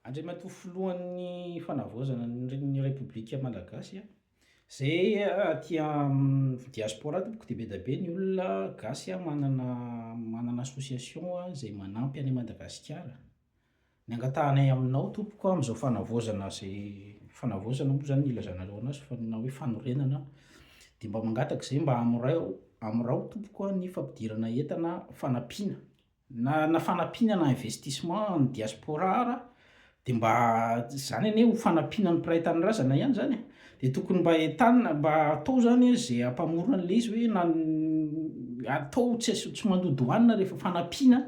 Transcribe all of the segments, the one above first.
Andriamatoa Filohan'ny Fanavaozana ny Repoblika Malagasy a! Zay aty amin'ny diaspora tompoko dia be dia be ny olona gasy a, manana manana association a, zay manampy an'i Madagasikara, ny angatahanay aminao tompoko amin'izao fanavaozana zay fanavaozana moa zany no ilazanareo anazy fa na hoe fanorenana dia mba mangataka izay mba amorao amorao tompoko ny fampidirana entana fanampiana. Na fanampiana na investissement an'ny diaspora ara dia mba izany anie ho fanampiana ny mpiray tanindrazana ihany izany e! dia tokony mba entanina mba atao izany hoe izay hampamorona an'ilay izy hoe na ny atao tsy asio tsy mando douane rehefa fanampiana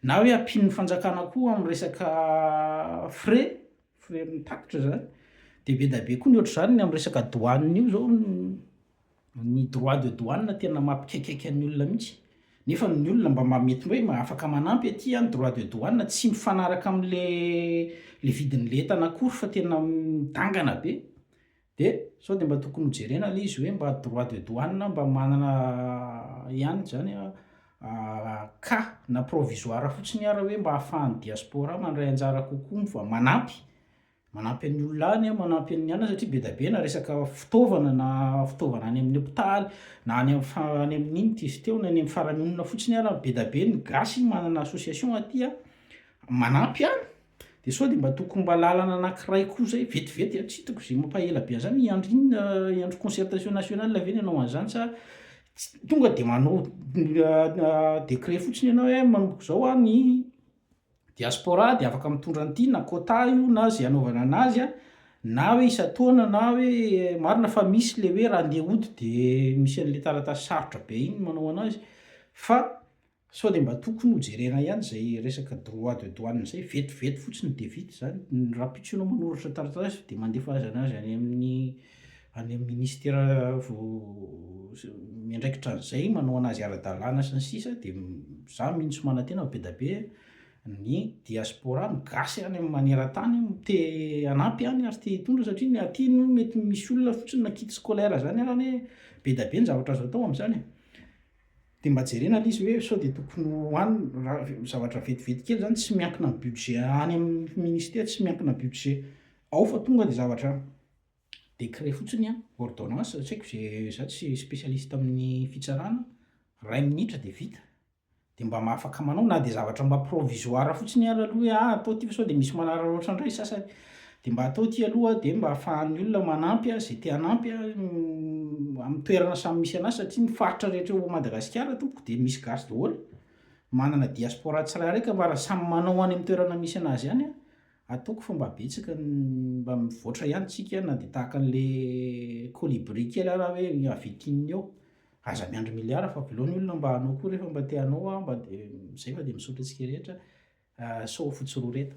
na hoe ampian'ny fanjakana koa amin'ny resaka frais frais amin'ny tatitra izany dia be dia be koa ny ohatr'izany ny amin'ny resaka douane io izao no ny droit de douane tena mampikaikaika ny olona mihitsy nefa ny olona mba mamety hoe ma afaka manampy aty an droit de douane tsy mifanaraka amle le vidinle entana akory fa tena midangana be de sao de mba tokony ho jerena le izy hoe mba droit de douane mba manana ihany zany an cas na provisoire fotsiny ara hoe mba afahan'ny diaspora mandray anjara kokoa mba manampy Manampy an'ny olona any, manampy an'ny anona satria be dia be na resaka fitaovana na fitaovana any amin'ny hopitaly na any amin'ny fa- any amin'iny ity sy teo na any amin'ny faramonina fotsiny ara be dia be ny gasy manana association aty a, manampy any, de sao de mba tokony mba lalana anankiray koa zay vetivety a, tsy hitako zay mampaela be an'zany hiandry inona hiandry concertation nationale ve ny hanao an'zany sa ts- tonga de manao décret fotsiny ianao hoe manomboka zao a ny Diaspora dia afaka mitondra an'ity na quota io na ze anaovana anazy a, na hoe isan-taona na hoe marina fa misy le hoe raha andeha hody de misy an'le taratasy sarotra be iny manao anazy fa sao de mba tokony ho jerena ihany zay resaka droit de douane zay, vetivety fotsiny de vita zany, ny rahampitso ianao manoratra taratasy de mandefa azy anazy any amin'ny. any amin'ny ministera miandraikitra an'izay manaoana azy ara-dalàna sy ny sisa dia za mihitsy manantena fa be da be ny diaspora ny gasy any amin'ny manerantany te hanampy any ary te hitondra satria ny aty no mety misy olona fotsiny na kit scolaire zany ary anie be da be ny zavatra azo atao amin'izany e dia mba jerena le izy hoe sao dia tokony ho any raha zavatra vetivety kely zany tsy miankina amin'ny budget any amin'ny ministera tsy miankina budget ao fa tonga ny zavatra décret fotsiny an, ordonnance, tsy haiko ze, za tsy spécialiste amin'ny fitsarana, ray minitra dia vita, dia mba afaka manao na dia zavatra mba provisoire fotsiny ary aloha hoe ah atao ity sao dia misy manararaotra indray ny sasany, dia mba atao ity aloha dia mba afahan'ny olona manampy an, ze te hanampy an, amin'ny toerana samy misy anazy satria ny faritra rehetra eo Madagasikara tompoko dia misy gasy daholo, manana diaspora tsirairay ka mba raha samy manao any amin'ny toerana misy anazy any an, Ataoko fa mba betsaka ny mba mivoatra ihany tsika na dia tahaka an'le colibri kely ara hoe avy aty ny eo. Aza miandry milliard fa velao ny olona mba hanao koa rehefa mba te hanao a mba de zay fa de misaotra antsika rehetra sao fotsy roa reta.